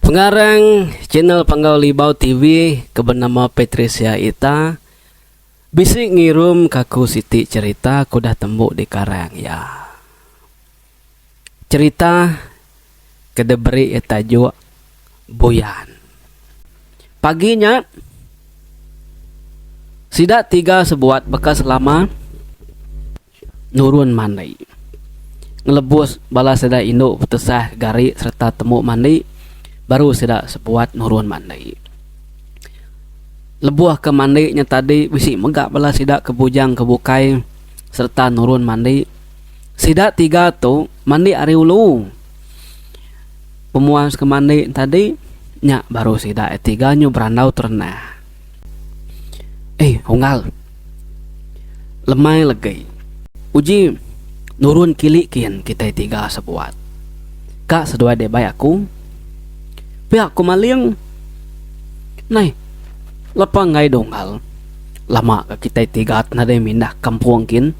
Pengarang channel Panggau Libau TV ke benama Patricia Ita bisi ngirum ke aku siti cherita ke udah tembu di karang iya. Cherita ke diberi iya tajuk Buyan. Pagi nya sida tiga sebuat baka selama. nurun mandi, ngelebus bala sida indu betesah ke gari sereta temu mandi baru sida sebuat nurun mandi. Lebuh ke mandi nya tadi bisi mega bala sida ke bujang ke bukai sereta nurun mandi. Sida tiga tu mandi ari ulu. Pemuas ke mandi tadi nya baru sida tiga nyu berandau terendah. Eh Unggal. Lemai legi. Uji nurun kili kin kitai tiga sebuat. Ka seduai deh bai aku. Pia aku maling. Nai. Lepa enggai deh Unggal. Lama ka kitai tiga ti nadai mindah kampung kin.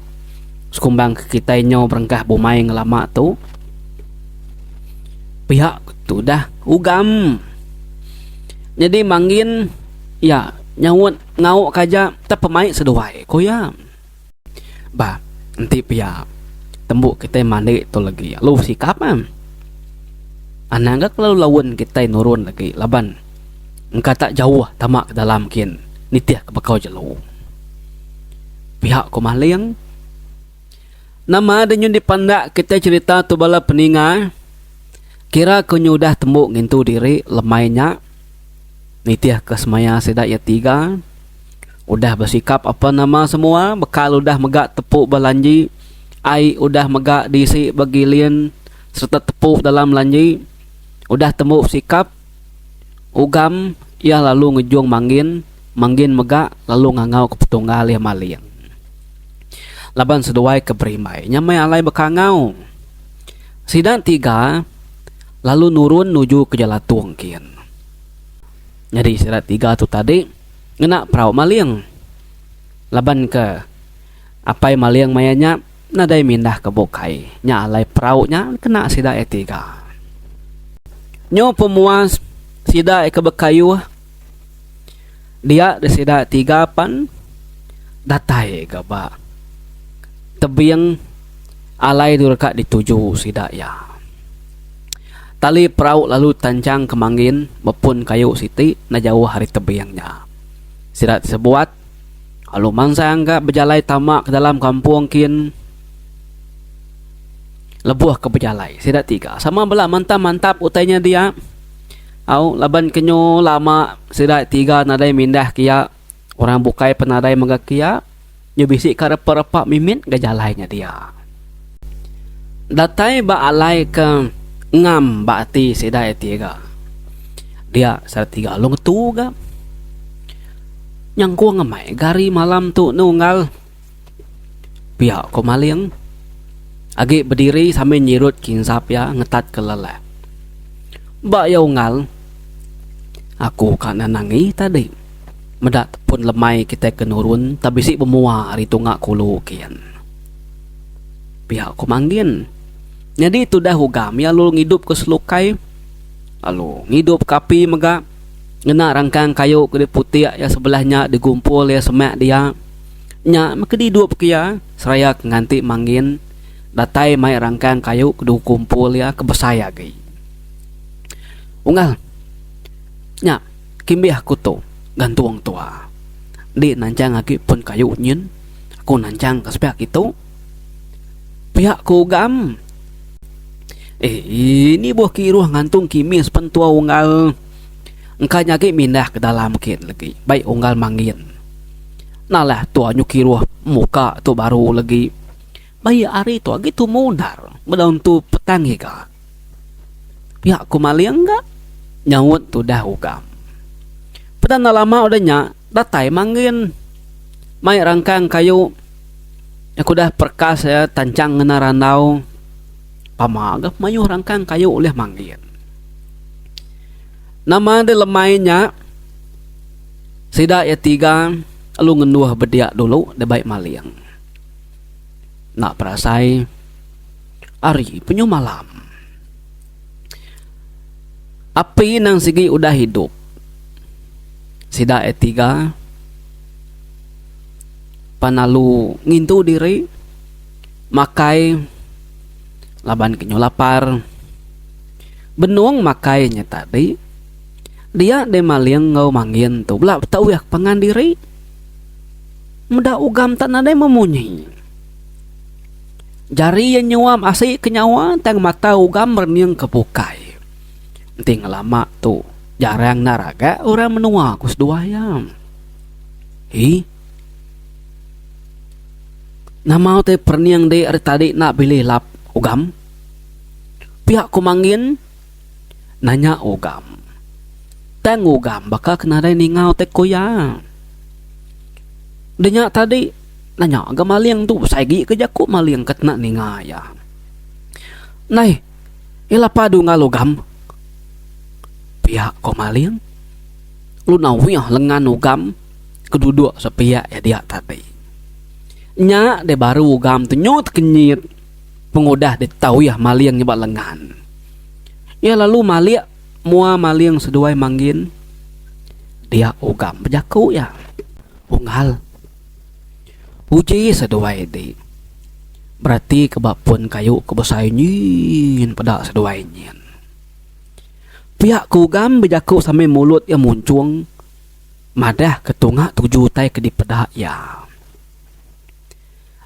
Sekumbang ka kitai nyau berengkah bumai ngelama tu. Pia ku tudah ugam. Nyadi manggin iya nyaut ngauk ka aja tap pemaik seduai, ku iya. Ba enti pia tembu kitai mandi tu legi alu besikap em. Anang ga kelalu laun kitai nurun legi laban engka tak jauh tama ke dalam kin nitih ka bekau jelu. Pia ku Maling. Nama denyu dipandak kitai cerita tu bala peninga? Kira ku nyu udah tembu ngintu diri lemai nya. Nitihka semaya sida iya tiga. Udah besikap apan nama semua, bekal udah mega tepu ba lanji, ai udah mega diisi ba gilin sereta tepu dalam lanji. Udah tembu sikap. Ugam iya lalu ngejung Manggin, Manggin mega lalu ngangau ke Petunggal iya maling. Laban seduai ke berimbai nya meh alai bekangau. Sida tiga lalu nurun nuju ke Jalatung kin. Nyadi sida tiga tu tadi ngena perau maling. Laban ke apai maling maya nya. Nadai mindah ke bukai nya alai perau nya kena sida iya tiga. Nyu pemuas sida iya ke bekayuh dia di sida iya tiga pan datai ga ba tebing alai tu deka dituju sida iya. Tali perau lalu tanjang ke mangin bepun kayu siti enda jauh ari tebing nya. Sida sebuat. Alu mansang ga bejalai tama ke dalam kampung kin lebuh ke bejalai sida tiga sama bala mantap mantap utai nya dia au laban ke nyu lama sida tiga nadai mindah ke iya orang bukai pun nadai mega ke iya nyu bisi ka repa repa mimit ga jalai nya dia. Datai ba alai ke ngam ba ati sida tiga dia sida tiga alu ngetu ga. Nyangkung amai gari malam tu nunggal pia ko maling agi bediri sambil nyirut kinsap iya ngetat ke lelah. Ba iya unggal aku ka nan angi tadi meda tepun lemai kitai ke nurun tak bisi bemua ari tunga kulu kin. Pia ko Manggin. Nyadi tudah ugam iya lalu ngidup ke selukai lalu ngidup ke api mega. Ngena rangkang kayu ke diputik iya sebelah nya digumpul iya semak dia. Nya maka didup ke iya seraya ke nganti mangin datai mai rangkang kayu ke digumpul iya ke besai agi. Unggal nya kimbih aku tu gantung tua. Enti nanchang agi pun kayu nyin aku nanchang ka sepiak kitu. Piak ku Ugam. Eh, ini buh ke iruh ngantung kimis pen tua Unggal. Engka nya agi mindah ke dalam ke legi. Baik Unggal mangin. Nalah tua nyuk iruh muka tu baru legi. Baik hari tu agi tumu endar. Bedau entu petang iga. Pia ku maling ga nyaut tudah ugam. Peda enda lama udah nya datai Manggin mai rangkang kayu iya ke udah perkas iya tanchang ngena randau pama ga mayuh rangkang kayu ulih Manggin. Nama deh lemai nya sida iya tiga lalu ngenduh bedia dulu deh bai maling. Enda perasai. Ari penyuh malam. Api nang sigi udah idup. Sida e tiga pan alu ngintu diri makai laban kenyuh lapar. Benung makai nya tadi dia deh maling enggau mangin tu bela betauh ke pangan diri. Meda ugam tak nadai memunyi. Jari iya nyuam asi ke nyawa tang mata ugam rening ke bukai. Enti ngelama tu jarang enda raga orang menua ku seduai iya. Hi. Nama utai perening dik ari tadi enda bilih lap ugam? Pia ku Mangin nanya ugam. Tang ugam baka ke nadai ninga utai ku iya. Denya tadi. Nanya ga maling tu besai agi ke jaku maling ke kena ninga iya. Nai, iya la padu enggau lugam. Pia ko maling. Lu nawih lengan ugam ke duduk sepiak iya dia tadi. Nya deh baru ugam tu nyut kenyit pengudah deh tau iya maling nyebak lengan. Iya lalu malik mua maling seduai manggin dia ugam bejaku iya. Unggal. Uji seduai ti beratika ba pun kayu ke besai nyin peda seduai nyin. Pia ke ugam bejaku sambil mulut iya munchung madahka tunga tuju utai ke dipeda iya.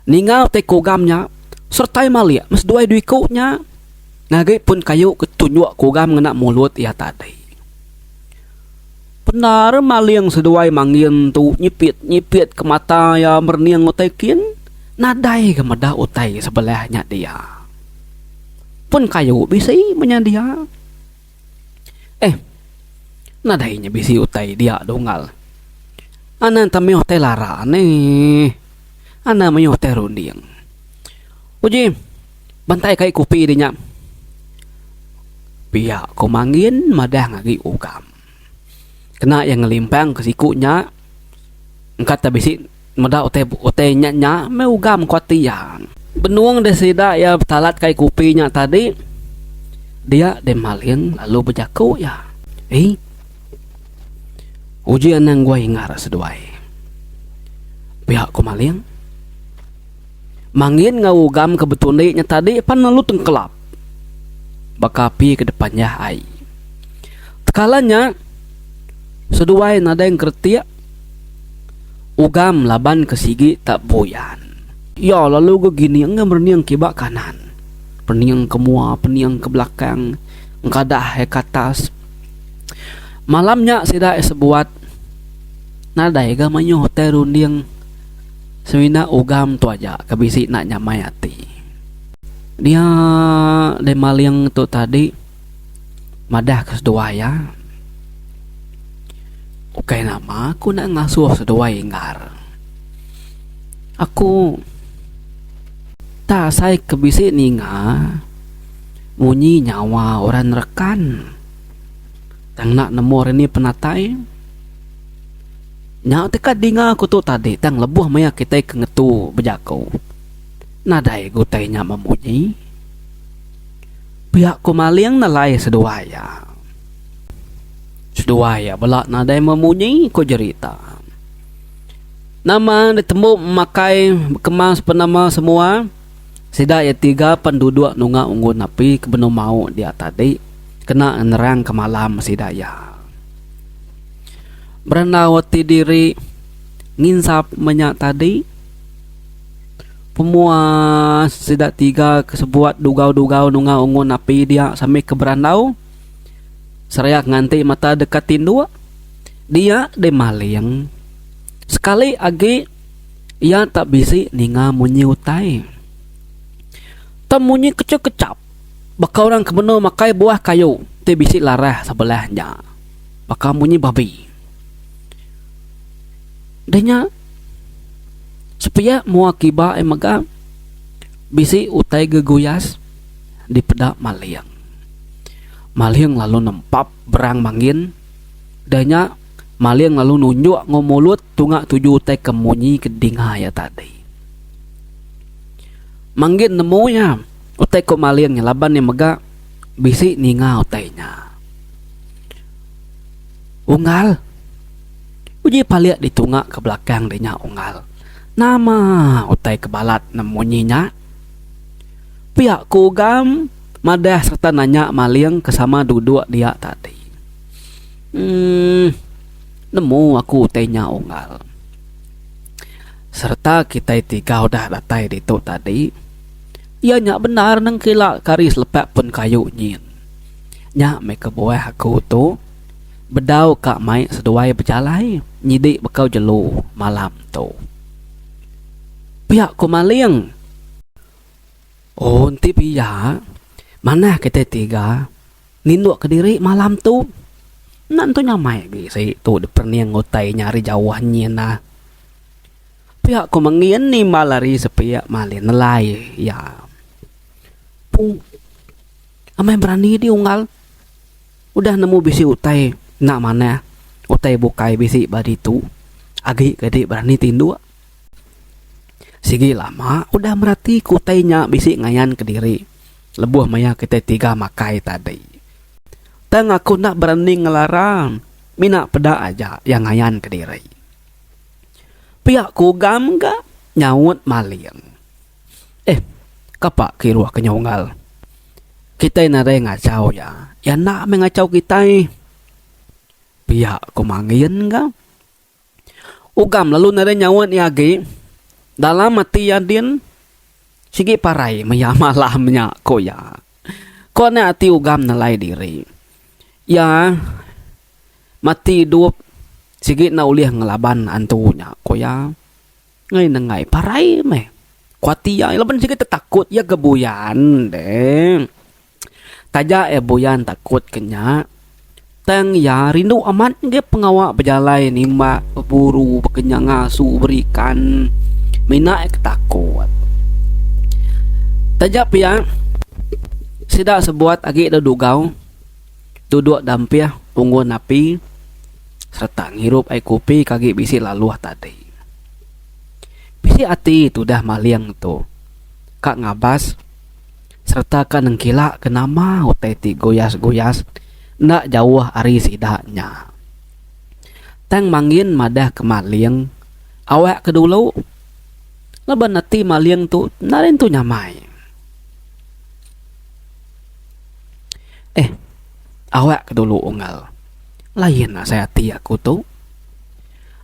Ninga utai kugam nya sertai malik meseduai dua iku nya ngagai pun kayu ke tunjuk kugam ngena mulut iya tadi. Pendar maling seduai mangin tu nyipit-nyipit ke mata iya merening utai kin nadai ga meda utai sebelah nya dia. Pun kayu bisi menya dia. Eh, nadai nya bisi utai dia da unggal. Anang tang mayuh tai lara neh. Anang mayuh tai runding. Uji, bantai kai kupi di nya. Pia ko Mangin madang agi ugam. Kena iya ngelimpang ke siku nya engka te bisi. Meda utai utai nya nya meh ugam ku ati iya. Benung deh sida iya betalat kai kupi nya tadi dia deh maling lalu bejaku iya. Ii. Uji anang gua hingar seduai. Pia ku maling. Mangin enggau ugam ke betundi nya tadi pan lalu tengkelap baka api ke depan iya ai. Tekala nya seduai nadai ngeretik. Ugam laban ke sigi tak buyan. Iya lalu ga gining enggau merening ke ba kanan. Pening ke mua, pening ke belakang, engkadah iya ke atas. Malam nya sida iya sebuat nadai ga mayuh utai runding semina Ugam tu aja ke bisi enda nyamai ati. Dia deh maling tu tadi. madah ke seduai iya, Ukai nama aku enda ngasuh seduai inggar. Aku enda asai ke bisi ninga munyi nyawa orang rekan tang enda nemu orang nih penatai. Nya teka dinga aku tu tadi tang lebuh maya kitai ke ngetu bejaku nadai utai nya memunyi. Pia ku Maling nelai seduai iya. Seduai iya bela nadai memunyi ku jerita. Nama ditembu makai bekemang sepenama semua sida iya tiga pen duduk nunga unggun api ke benung mau dia tadi kena ngenerang ke malam sida iya. Berendau ati diri nginsap menya tadi. Pemuas sida tiga ke sebuat dugau-dugau nungau Ungun api dia sambil ke berandau sereak nganti mata dek ka tinduk. Dia deh maling. Sekali agi iya tak bisi ninga munyi utai. Tang munyi kechup-kechup baka orang ke benung makai buah kayu ti bisi larah sebelah nya. Baka munyi babi. Denya sepiak mua kiba ai mega bisi utai geguyas dipeda Maling. Maling lalu nempap berang mangin denya Maling lalu nunjuk enggau mulut tunga tuju utai ke munyi ke dinga iya tadi. Mangin nemu iya utai ku Maling laban iya mega bisi ninga utai nya. Unggal. Uji palik ditunga ke belakang deh nya Unggal. Nama utai ke balat ne munyi nya? Pia ku Ugam madah serta nanya Maling ke sama duduk dia tadi. Emm nemu aku utai nya Unggal. Serta kitai tiga udah datai ditu tadi. Iya nya bendar nengkila ke hari selepak pun kayu nyin. Nya meh kebuah aku tu. bedau ka mai seduai bejalai nyidi bekau jelu malam tu. Pia ku Maling. Oh enti pia manah kitai tiga ninduk ka diri malam tu. Enda nentu nyamai agi isi tu diperening utai nya ari jauh nyin nah. Pia ku Mengin nimbal ari sepiak Maling nelai iya. Pung amai berani dih unggal. Udah nemu bisi utai enda manah, utai bukai bisi ba ditu agi ke dek berani tinduk. Sigi lama udah merati ke utai nya bisi ngayan ke diri lebuh maya kitai tiga makai tadi. Tang aku enda berani ngelara mina peda aja iya ngayan ke diri. Pia ku Gam ga nyaut maling. Eh, kapa ke iruh ke nyau Engal? Kitai nadai ngachau iya. Iya enda meh ngachau kitai. Pia ku Mangin ka. Ugam lalu nadai nyaut iya agi. Dalam ati iya din, sigi parai meh iya malam nya, ku iya. Ko nya ati Ugam nelai diri. Iya mati idup sigi enda ulih ngelaban antu nya, ku iya. Ngai nenggai parai meh. Ku ati iya, laban sigi tetakut iya ke buyan deh. Taja iya buyan takut ke nya, tang iya rindu amat ngagai pengawa bejalai nimbak, beburu, bekenyang ngasu, berikan. Mina iya ke takut. Taja pia, sida sebuat agi da Dugau. duduk dampih unggun api sereta ngirup ai kopi ke agi bisi laluh tadi. Bisi ati tudah maling tu ka ngabas sereta ka nengkila ke nama utai ti guyas-guyas enda jauh ari sida nya. Tang Mangin madah ke maling, Awak ke dulu, laban ati maling tu enda rintu nyamai. Eh, awak ke dulu Unggal. Lain asai ati aku tu.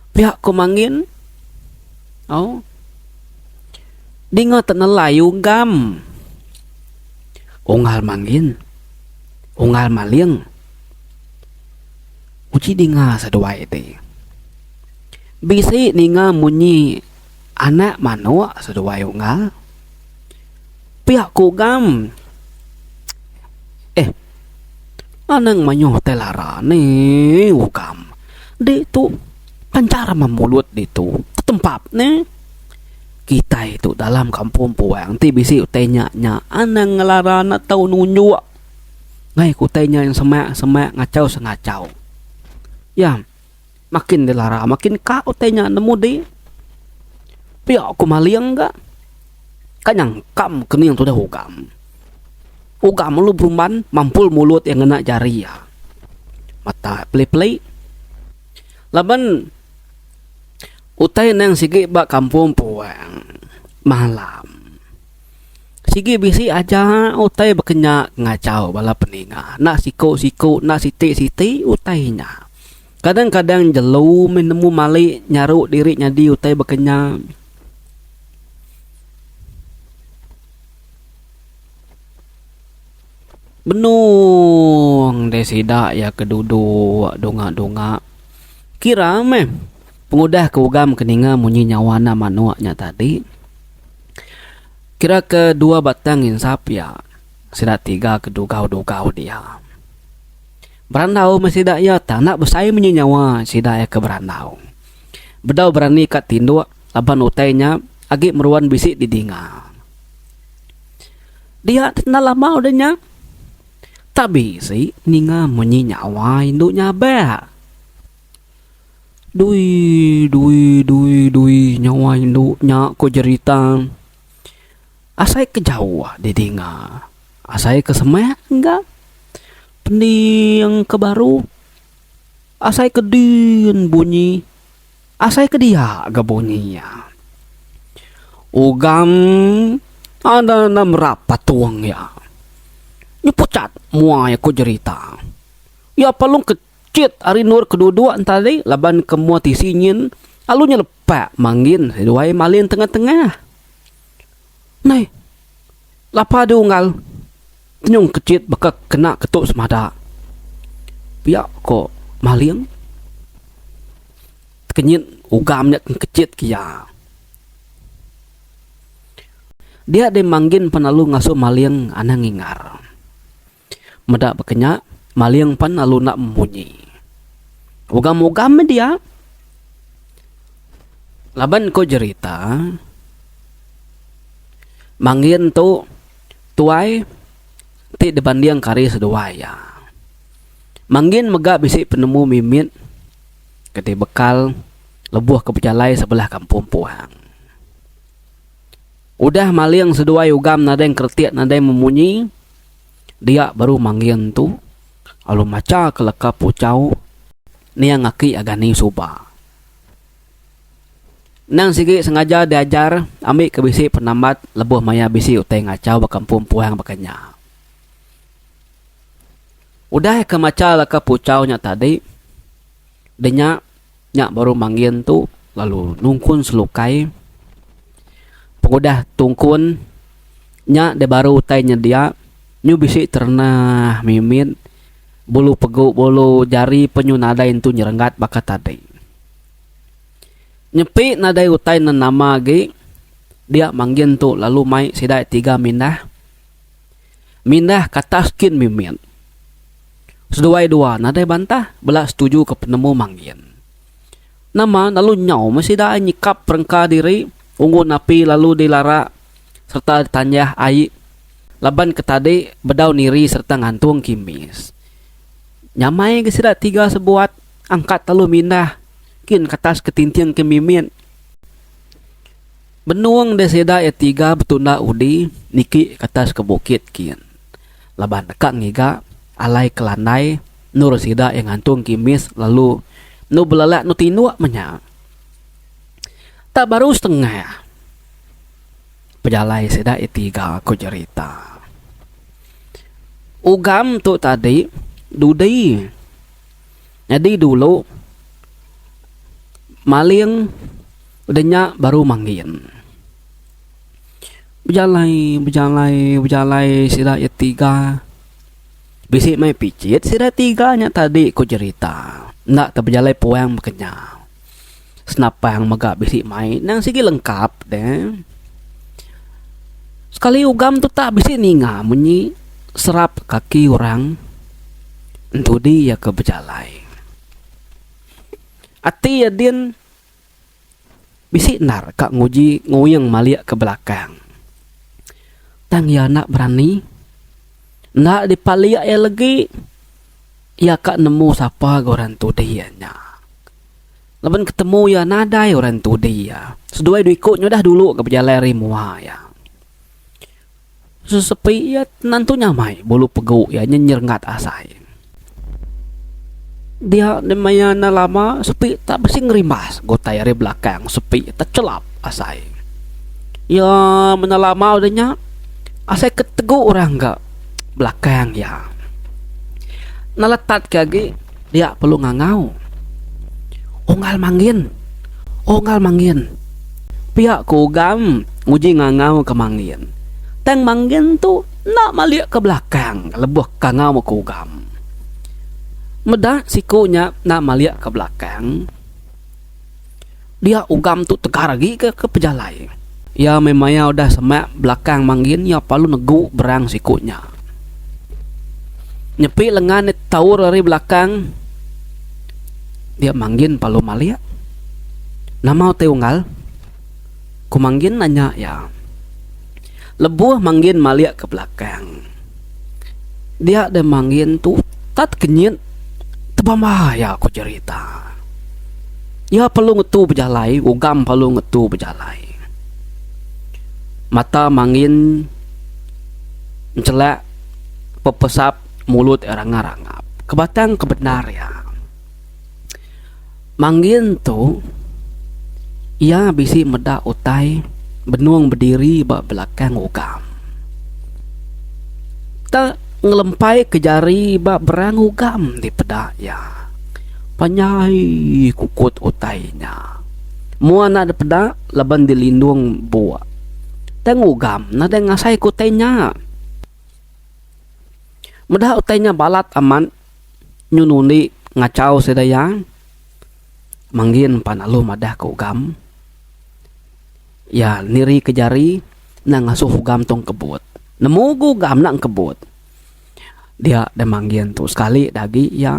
Pia ku Mangin. Au. Dinga te nelai ugam. Unggal Mangin. Unggal Maling. Uji dinga seduai ti. Bisi ninga munyi anak manuk seduai Unggal. Pia ku Gam. Eh. Anang mayuh tai lara ni Ugam. Ditu pancar meh mulut ditu. Tetempap ne. Kitai tu dalam kampung puang ti bisi utai nya nya anang ngelara enda tau nunjuk ngaih ke utai nya semak semak ngachau sengachau. Iya. Makin dilara makin ka utai nya nemu di pia ku maling ga ka nyangkam kening tudah ugam. Ugam lalu berumban mampul mulut iya ngena jari iya. Mata iya peli-peli. Laban utai nang sigi ba kampung puang malam sigi bisi aja utai bakanya ngachau bala peninga enda siku-siku enda siti-siti utai nya. Kadang-kadang jelu meh nemu mali nyaru diri nyadi utai baka nya. Benung deh sida iya ke duduk dongak-dongak. Kira meh pengudah ke ugam ke ninga munyi nyawa anak manuk nya tadi. Kira ke dua batang insap iya. Sida tiga ke dugau-dugau dia. Berandau meh sida iya tang enda besai munyi nyawa sida iya ke berandau. Bedau berani ka tinduk laban utai nya agi meruan bisi didinga. Dia ti enda lama udah nya tak bisi ninga munyi nyawa indu nya abek. Dui dui dui dui nyawa indu nya ku jerita asai ke jauh didinga asai ke semak ga. Pening ke baru, asai ke din bunyi, asai ke dia ga bunyi iya. Ugam enda enda merap patung iya. Nyu pucat muai aku jerita. Iya palung ke chit ari endur ke duduk enti hari laban ke mua tisi nyin lalu nyelepak manggin seduai malin tengah tengah. Nai. Lapa du unggal nyung kechit baka kena ke tu semada. Pia ko Maling. Tekenyit ugam nya ke kechit ke iya. Dia deh manggin penalu ngasu Maling anang ingar. Meda baka nya, maling pan lalu enda memunyi. Ugam-ugam media laban ku jerita Mangin tu tuai ti dibandingka ari seduai iya. Mangin mega bisi penemu mimit ke ti bekal lebuh ke bejalai sebelah kampung puang. Udah maling seduai ugam nadai ngkretik nadai memunyi. Dia baru manggil entu lalu macha ke leka puchau niang aki agan ni suba. Endang sigi sengaja diajar ambi ke bisi penambat lebuh maya bisi utai ngachau baka empu empuang baka nya. Udah ke macha leka puchau nya tadi, denya. Nya baru manggin tu lalu nungkun selukai. Pengudah tungkun nya deh baru utai nyedia nyu bisi terenah mimit bulu pegu bulu jari pe nyu nadai entu nyerenggat baka tadi. Nyepi nadai utai nenama agi dia manggin tu lalu mai sida tiga mindah. mindah ke atas kin mimit. Seduai dua nadai bantah bela setuju ke penemu manggin. Nama lalu nyau meh sida ai nyikap perengka diri unggun api lalu dilara sereta ditanjah ai laban ke tadi bedau niri sereta ngantung kimis. Nyamai ga sida tiga sebuat angkat lalu mindah kin ke atas ke tinting kin mimit. Benung deh sida iya tiga betunda udi niki ke atas ke bukit kin laban deka ngiga alai ke landai endur sida iya ngantung kimis lalu enu belelak enu tinduk meh nya. Enda baru setengah pejalai sida iya tiga ku jerita ugam tu tadi dudi. Nyadi dulu maling udah nya baru mangin. Bejalai bejalai bejalai sida iya tiga bisi meh picit sida tiga nya tadi ku jerita enda tau bejalai puang baka nya. senapang mega bisi mai nang sigi lengkap de sekali ugam tu tak bisi ninga munyi serap kaki orang entudi iya ke bejalai ati iya din bisi endar ka nguji nguing malik ke belakang tang iya enda berani enda dipalik iya legi iya ka nemu sapa ga orang entudi iya nya. Laban ketemu iya nadai orang entudi iya. Seduai dua iku nyudah dulu ke bejalai ari mua iya. Sesepi iya tenantu nyamai bulu pegu iya nyenyerengat asai. Dia enda maya enda lama sepi tak bisi ngerimbas ke utai ari belakang sepi techelap asai. Iya menda lama udah nya asai ketegu orang ka belakang iya. Naletat ke agi. Dia perlu ngangau. Unggal manggin. Unggal manggin. Pia ku Ugam nguji ngangau ke manggin. Tang manggin tu enda malik ke belakang lebuh kangau ku Ugam. Meda siku nya enda malik ke belakang. Dia ugam tu tegar agi ke ke pejalai. Iya meh maya udah semak belakang manggin iya palu negu berang siku nya. Nyepi lengan ne taur ari belakang dia manggin palu malik. Nama utai unggal? Ku manggin nanya iya. Lebuh manggin malik ke belakang. Dia deh manggin tu tat kenyit tebambai iya ku jerita. Iya perlu ngetu bejalai ugam perlu ngetu bejalai. Mata manggin nchelak pepesap mulut iya rangap-rangap. Kebatang ke bendar iya. Manggin tu, iya bisi meda utai benung bediri ba belakang ugam. Te ngelempaika jari ba berang ugam ti peda iya. Panjai kukut utai nya. Mua enda dipeda laban dilindung buk. Tang ugam nadai ngasaika utai nya. Meda utai nya balat amat. nyun undi ngachau sida iya manggin pan alu madah ka ugam iya niri ka jari enda ngasuh ugam tong kebut nemu ga ugam enda kebut dia deh manggin tu sekali dah agi iya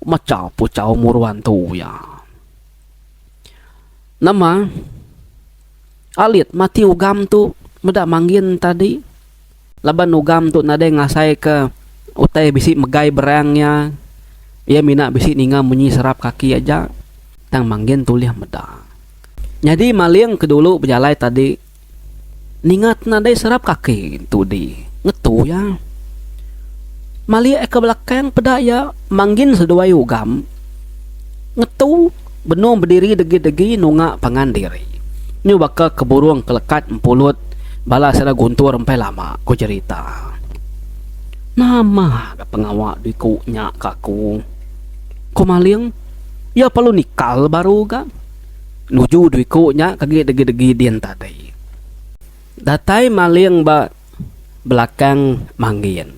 machau puchau muru antu iya nama alit mati ugam tu meda manggin tadi. Laban ugam tu nadai ngasaika utai bisi megai berang iya, iya mina bisi ninga munyi serap kaki aja, tang manggin tulih meda. Nyadi maling ke dulu bejalai tadi ninga ti nadai serap kaki tudi ngetu iya. Malik ka belakang peda iya manggin seduai ugam ngetu. Benung bediri degi-degi nunga pangan diri. Nyu baka ke burung ke lekat empulut bala sida guntur empai lama, ku jerita. Nama ga pengawa diku nya ke aku? ku Maling. Iya perlu nikal baru ga. Nuju diku nya ke agi degi-degi din tadi. Datai Maling ba belakang Manggin.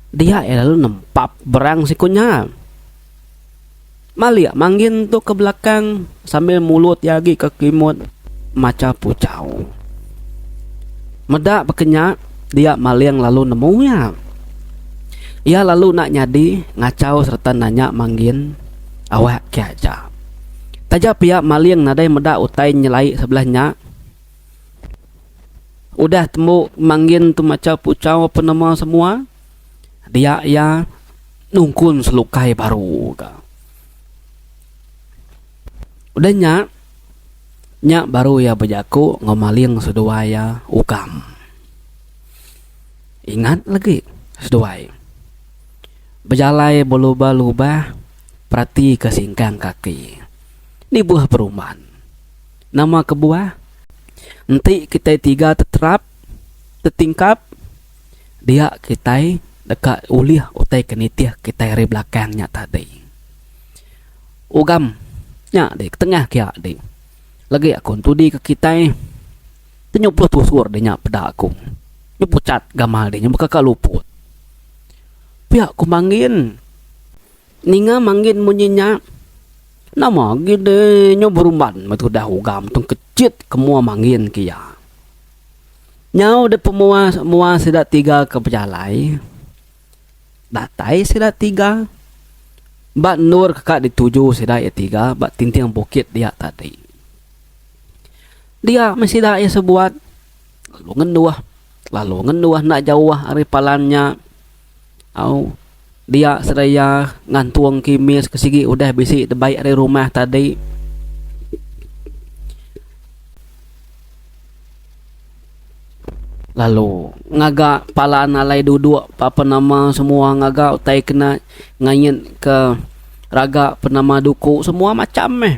Dia iya lalu nempap berang siku nya. Malik manggin tu ke belakang sambil mulut iya agi ke kelimut macha puchau. Meda baka nya dia Maling lalu nemu iya. Iya lalu enda nyadi ngachau sereta nanya manggin awak ke aja. Taja pia Maling nadai meda utai nyelai sebelah nya. Udah tembu manggin tu macha puchau penemu semua. Dia iya nungkun selukai baru ga. Udah nya, nya baru iya bejaku enggau maling seduai iya ugam. Ingat legi seduai. Bejalai belubah-lubah peratika singkang kaki. Nibuh peruman. Nama kebuah? Enti kitai tiga teterap, tetingkap. dia kitai deka ulih utai ke nitih kitai ari belakang nya tadi. Ugam nya dik ketengah kia dik legi aku entudi ke kitai ti nyupuh tusur dik nya peda aku nyupuh chat gamal dik nya baka ka luput. Pia ku manggin ninga manggin munyi nya nama gin dik nyu berumban meh tudah ugam tung kechit ke mua manggin ke iya. Nyau dek pemua mua sida tiga ke bejalai. Datai sida tiga ba endur ke ka dituju sida iya tiga ba tinting bukit dia tadi. Dia meh sida iya sebuat lalu ngenduh lalu ngenduh enda jauh ari palan nya. Au dia serai iya ngantung kimis ke sigi udah bisi debai ari rumah tadi. Lalu ngaga palan alai dudok ba penama semua ngaga utai kena ngayat ke raga penama duku semua macham meh.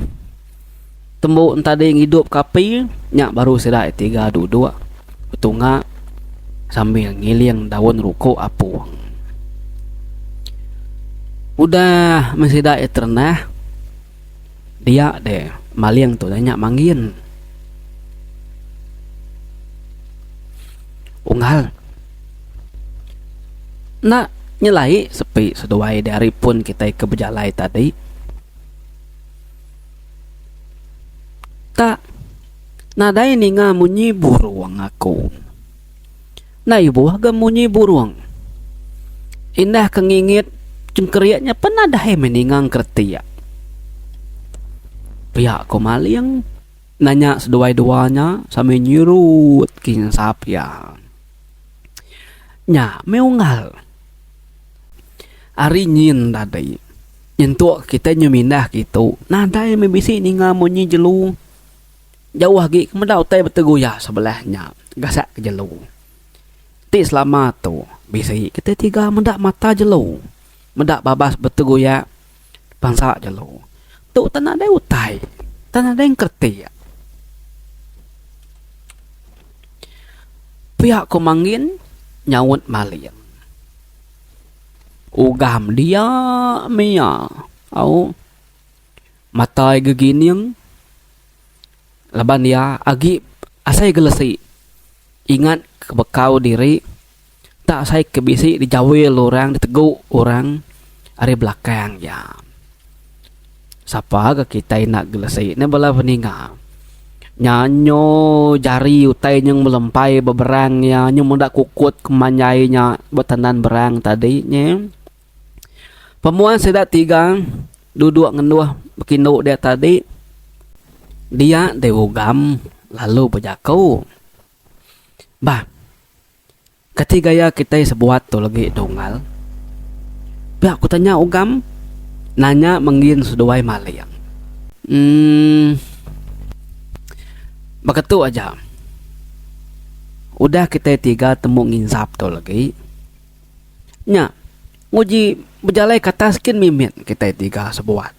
Tembu entadi ngidupka api nya baru sida tiga duduk betunga sambil ngiling daun ruku apung. Udah meh sida iya terendah, dia deh maling tu nya manggin. Unggal. Enda nyelai sepi seduai dari pun kitai ke bejalai tadi. Tak nadai ninga munyi burung aku. Enda ibuh ga munyi burung. Indah ke ngingit cengkerik nya pen nadai meh ninga engkeretik. Pia ku Maling nanya seduai dua nya sambil nyerut kinsap iya. Nya meh unggal ari nyin tadi. Nyentuk kitai nyu mindah ke itu, nadai meh bisi ninga munyi jelu. Jauh agi ke meda utai beteguya sebelah nya gasak ke jelu. Ti selama tu bisi kitai tiga meda mata jelu, meda babas beteguya bansa jelu. Tu tan nadai utai, tan nadai engkeretik. Pia ku Mangin nyaut Maling. Ugam dia mia au matai gegining laban iya agi asai gelesi ingat ke bekau diri enda asai ke bisi dijawil orang ditegu orang ari belakang iya. Sapa ga kitai enda gelesi ne bala peninga nya nyu jari utai nyeng melempai ba berang iya nyu meda kukut kemanjai nya ba tandan berang tadi nyi. Pemuan sida tiga dudok ngendoh bekindu dia tadi dia dei ugam lalu bejaku bah. Kati gaya kitai sebuat tu legi Dungal? Pia ku tanya Ugam nanya menggin seduai maling. Emm. Baka tu aja. Udah kitai tiga temu nginsap tu legi. Nya, nguji bejalai ke atas gin mimit kitai tiga sebuat.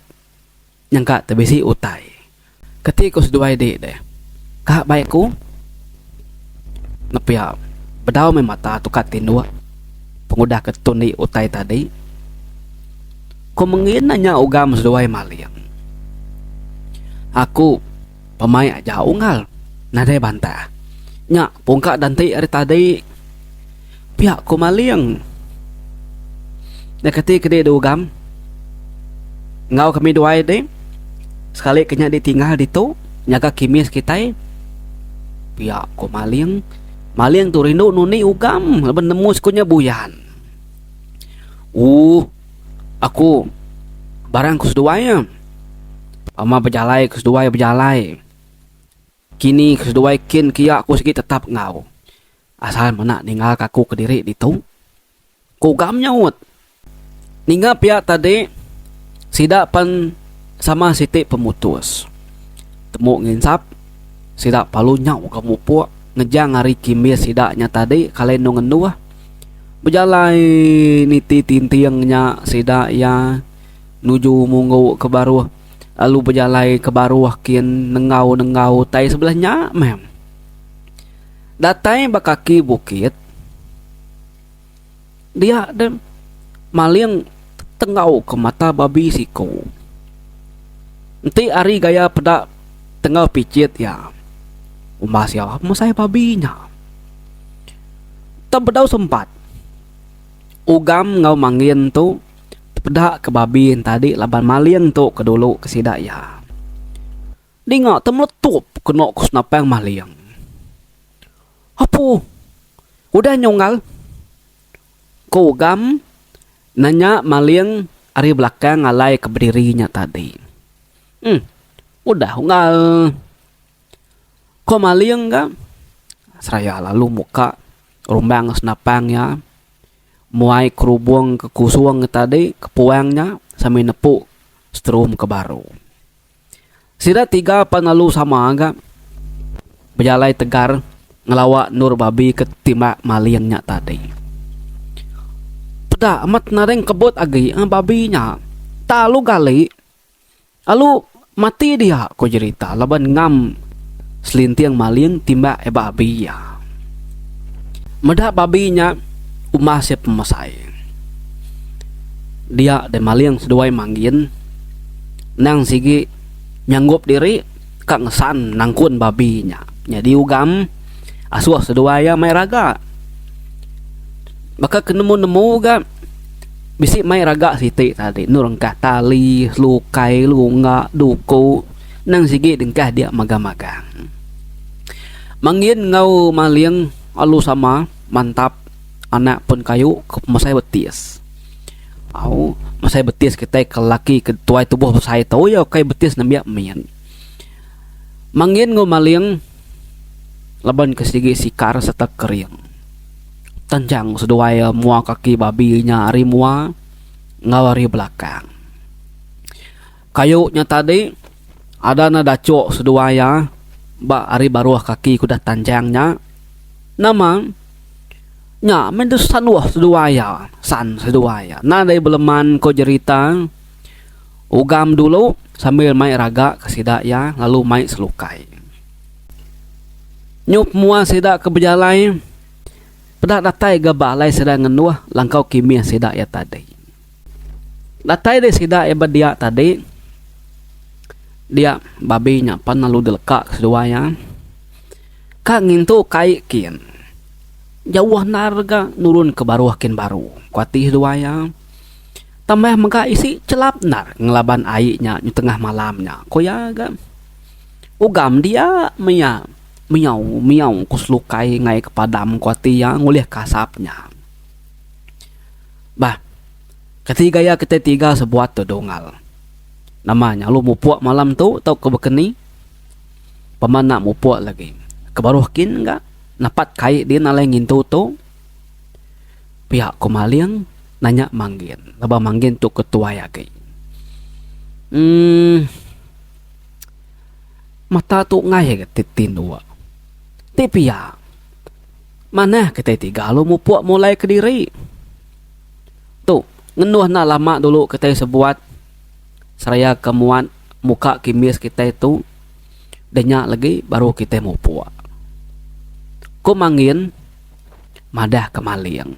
Nyengka te bisi utai. Keti ku seduai dik deh. Ka baik ku nepia bedau meh mata tukat tinduk pengudah ke tun dik utai tadi. Ku mengin na nya ugam seduai maling. Aku pemaik aja unggal nadai bantah. Nya pungka da enti ari tadi. Pia ku maling. Nya keti kedi di ugam. Enggau kami duai deh. Sekali ke nya di tinggal ditu. Nyaga kimis kitai. Pia ku maling. Maling tu rindu nunik ugam. Laban nemu siku nya buyan. Ooh. Aku. Barang ku seduai. Pama bejalai ku seduai bejalai. Kini keseduai kin kia aku sigi tetap enggau. Asal mena ninggalka aku kediri ditu, ku Ugam nyaut. Ninga pia tadi, sida pan sama siti pemutus. Temu nginsap, sida palu nyau ke mupuk ngejang ari kimbis sida nya tadi kalai endu ngenduh. Bejalai niti tinting nya sida iya nuju munggu ke baruh. lalu bejalai ke baruh kin nenggau nenggau utai sebelah nya meh datai ba kaki bukit dia de maling tenggau ke mata babi siko enti ari gaya peda tenggau pichit iya uma sia mesai babi nya tang bedau sempat ugam enggau mangin tu. Tepeda ke babi entadi laban maling tu ke dulu ke sida iya. Dinga te meletup keno ke senapang maling. Apu udah nyunggal? Ku Ugam nanya maling ari belakang alai ke bediri nya tadi. Em udah unggal. Ku maling ga seraya lalu muka rumbang senapang iya. muai kerubung ke kusung tadi ke puang nya sambil nepu strum ke baru. Sida tiga pan lalu sama ga bejalai tegar ngelawa endur babi ke timbak maling nya tadi. Peda amat nadai ngkebut agi babi nya. Tang lalu gali. Lalu mati dia, ko jerita laban ngam selinting maling timbak ai babi iya. Meda babi nya umbah sia pemesai. Dia deh maling seduai manggin nang sigi nyanggup diri ka ngesan nangkun babi nya. Nyadi ugam asuh seduai iya mai raga. Baka ke nemu-nemu ga. Bisi mai raga siti tadi endur engkah tali, lukai, lunga, duku endang sigi dengkah dia magang-magang. Mangin enggau maling alu sama mantap anak pun kayu mesai betis. Au mesai betis kitai ke lelaki ke tuai tubuh besai tu iya ukai betis nembiak min. Mangin enggau maling laban ke sigi sikar sereta kering. Tanjang seduai mua kaki babi nya ari mua enggau ari belakang. Kayu nya tadi ada ne dachok seduai iya ba ari baruh kaki kudah Tanjang nya. Nama nya meh deh sanuh seduai iya, san seduai iya. Nan deh beleman ko jerita ugam dulu sambil mai raga ke sida iya lalu mai selukai. Nyuk mua sida ke bejalai peda datai gaba alai sida ngenduh langkau kimih sida iya tadi. Datai deh sida iya ba dia tadi dia babi nya pan lalu dileka ke seduai iya. Ka ngintu kai kin jauh endar ga nurun ke baruh kin baru ku ati seduai iya. Tambah mega isi chelap endar ngelaban ai nya tengah malam nya ku iya ga. Ugam dia mia miau miau ku selukai ngai ke padam ku ati iya ngulih ke asap nya. Bah keti gaya keti tiga sebuat tu Dungal. Nama nya lu mupok malam tu tau ke baka ni. Pemba enda mupok lagi ke baruh kin ga napat kai din alai ngintu tu. Pia ku maling nanya Manggin laban Manggin tu ketuai agi. Uhh. Mata tu enggai ga ti tinduk. Ti pia, manah kitai tiga lalu mupuk mulai kediri. Tu, ngenduh enda lama dulu kitai sebuat seraya ke muat muka kimis kitai tu deh nya legi baru kitai mupuk. Ku Mangin, madah ke maling.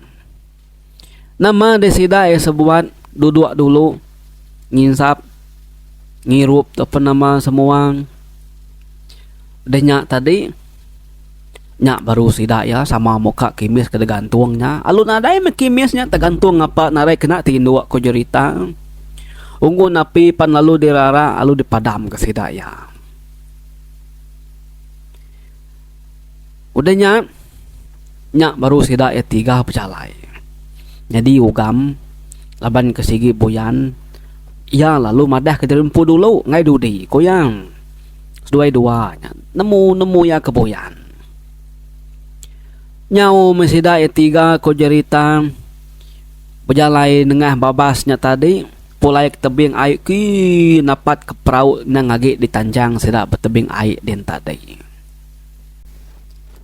Nama deh sida iya sebuat duduk dulu nginsap ngirup tu pun nama semuang deh nya tadi nya baru sida iya sama muka kimis ke digantung nya lalu nadai meh kimis nya tegantung ngapa nadai kena tindu ku jerita unggun api pan lalu dirara lalu dipadam ke sida iya. Udah nya, nya baru sida iya tiga bejalai. Nyadi ugam laban ke sigi buyan iya lalu madah ke diri empu dulu enggai dudi ku iya. Seduai dua nya nemu nemu iya ke buyan. Nyau meh sida iya tiga ku jerita bejalai nengah babas nya tadi pulai ke tebing ai kii napat ke perau endang agi ditanjang sida ba tebing ai din tadi.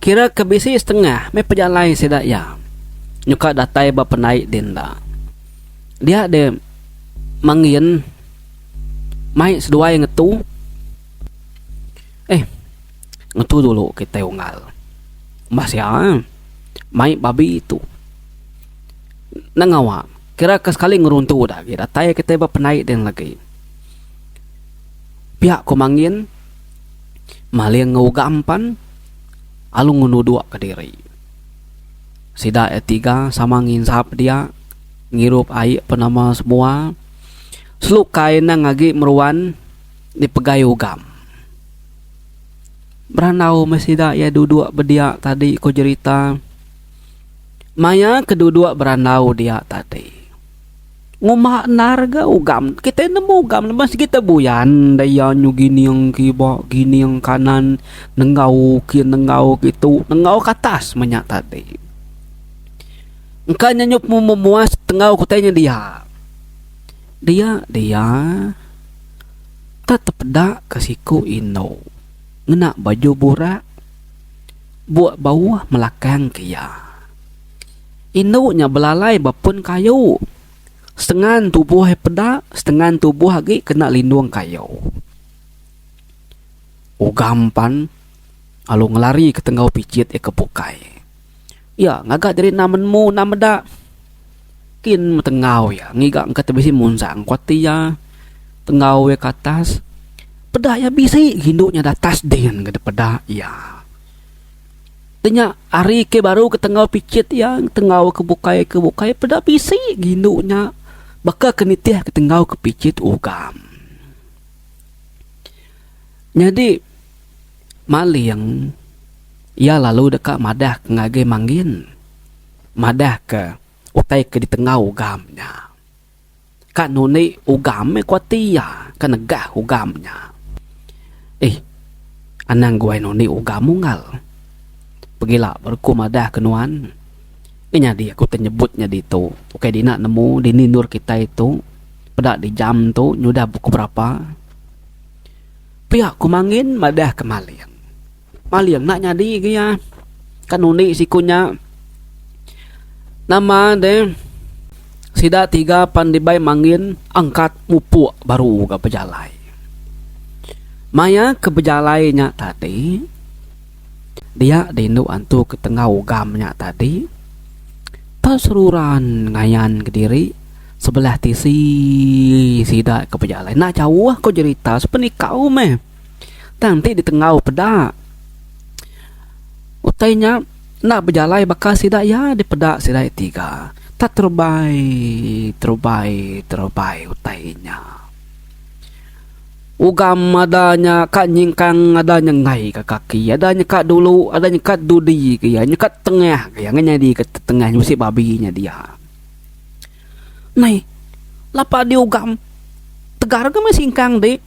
Kira ke bisi setengah meh pejalai sida iya nyuka datai ba pendai din da. Dia deh mangin mai seduai ngetu eh ngetu dulu kitai unggal bah sia eh mai babi tu enda ngawa kira ke sekali ngeruntu da agi datai kitai ba pendai din lagi pia ku mangin Maling enggau ugam pan alu ngenuduk ke diri. Sida iya tiga sama nginsap dia ngirup ai pun nama semua. Selukai nang agi meruan dipegai ugam. Berandau meh sida iya duduk bedia tadi ku jerita. Maya ke duduk berandau dia tadi. Ngumba endar ga ugam. Kitai nemu ugam lebuh sigi te buyan deh iya nyu gining kiba gining kanan nenggau kin nenggau kitu nenggau ke atas meh nya tadi. Engka nya nyu pemung memuas tenggau kitai nya dia. Dia dia te tepeda ke siku indu ngena baju burak buk bauh melakang ke iya. Indu nya belalai ba pun kayu. Setengan tubuh iya peda, setengan tubuh agi kena lindung kayu. Ugam pan lalu ngelari ke tenggau pijit iya ke bukai. Iya ngaga jadi enda menemu enda meda. Kin meh tenggau iya ngiga engka ti bisi munjang ku ati iya. Tenggau iya ke atas peda iya bisi gi indu nya da atas din ke dipeda iya. Ti nya ari ke baru ke tenggau pichit iya tenggau ke bukai ke bukai peda bisi ke indu nya baka ke nitih ke tenggau ke pichit ugam. Nyadi maling iya lalu deka madah ke ngagai mangin madah ke utai ke ditenggau ugam nya. Ka nundi ugam meh ku ati iya ke negah ugam nya. Ih, anang guai nundi ugam unggal. Pegila baru ku madah ke nuan. Nya nyadi aku ti nyebut nya ditu. Ukai dina nemu dini endur kitai tu. Peda di jam tu nyudah pukul berapa. Pia ku Mangin madah ke Malin. Maling enda nyadi ke iya. Ka nundi siku nya. Nama deh sida tiga pan dibai mangin angkat mupuk baru ga bejalai. Maya ke bejalai nya tadi dia di indu antu ke tengah ugam nya tadi tau seruran ngayan kediri sebelah tisi sida ke bejalai. Enda jauh ko jerita sepenikau meh. Tang enti ditenggau peda utai nya enda bejalai baka sida iya dipeda sida iya tiga tak terubai terubai terubai utai inya. Ugam ada nya ka nyingkang ada nya enggai ka kaki ada nya ka dulu ada nya ka dudi ke iya nya ka tengah ke iya ngena nyadi ka tengah nya bisi babi nya dia. Meh lapa diugam tegar ka meh singkang ti.